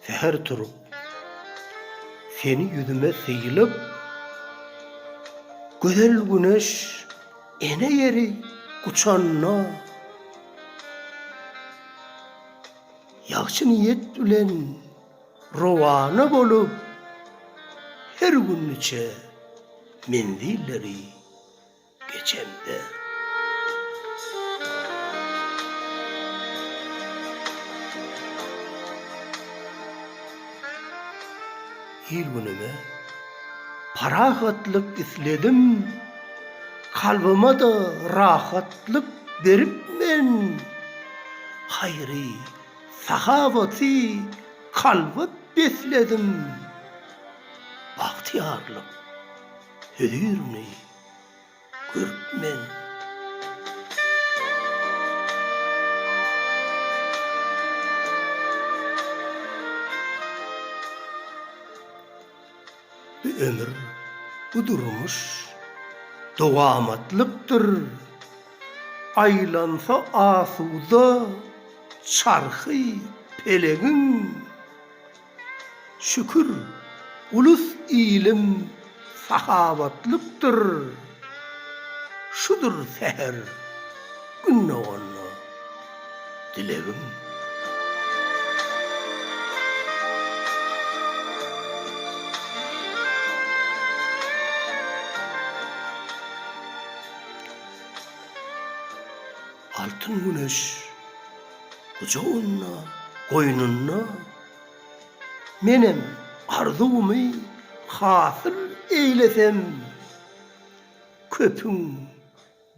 Säher turup, seni ýüzüme sylyp, Gözel güneş ene ýeri guçanda. Ýagşy niýet bilen rowana bolup, her gün niçe menzilleri geçemde. Il-günüme parahatlyk isledim, kalbyma-da rahatlyk berip men, haýry, sahawaty kalba besledim, bagtyýarlyk hözirini. Kürtmen. Bu ömür, bu durmuş dowamatlykdyr, Aýlansa asuda çarhy pelegiň. Şükür, ulus ilim sahawatlykdyr, Şudur säher Gün doganda dilegim. Altyn güneş. Gujagynda, goýnunda Menem arzuwymy hasyl eýlesem Köpüň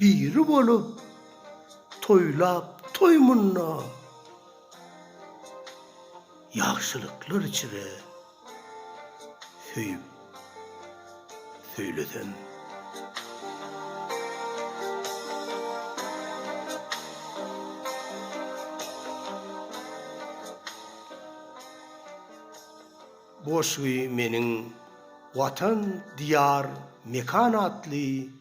biri bolup toýlap toý munda Ýagşylyklar içre söýüp söýlesem. Bu goşgy meniň Watan, Diýar, Mekan atly